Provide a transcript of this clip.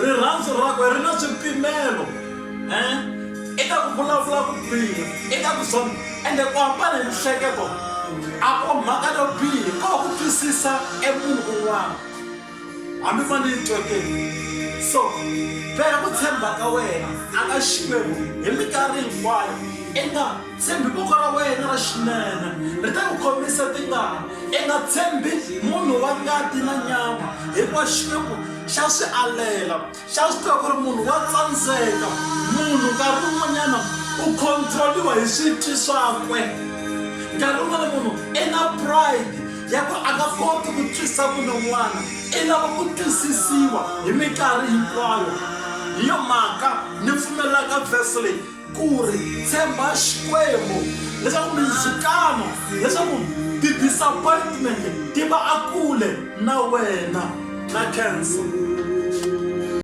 rirhandzu rakwe ri na swipimelo eh? eka ku vulavula ku biha eka ku zona ende ku hambana hi mihleketo a ko mhaka yo bihi ko ku twisisa emunhu un'wana hambi ma ni tweke so veka ku tshemba ka wena a ka xikwembu hi minkarhi hinkwayo eka Tshembi voko ra wena ra xinene ri ta ku khomisa tingana i nga tshembi munhu wa ngati na nyama hikuva xikwembu xa swi alela xa swi tiva ku ri munhu wa tsandzeka munhu nkarhi wun'wanyana u controliwa hi switwi swakwe nkarhi wun'wana munhu i na pride ya ku a nga koti ku twisa munhu un'wana i lava ku twisisiwa hi minkarhi hinkwayo hi yo mhaka ni pfumelaka vhesi leyi Ku ri, Tshemba Xikwembu leswaku mindzhukano, leswaku ti-disappointment ti va akule na wena na cancer.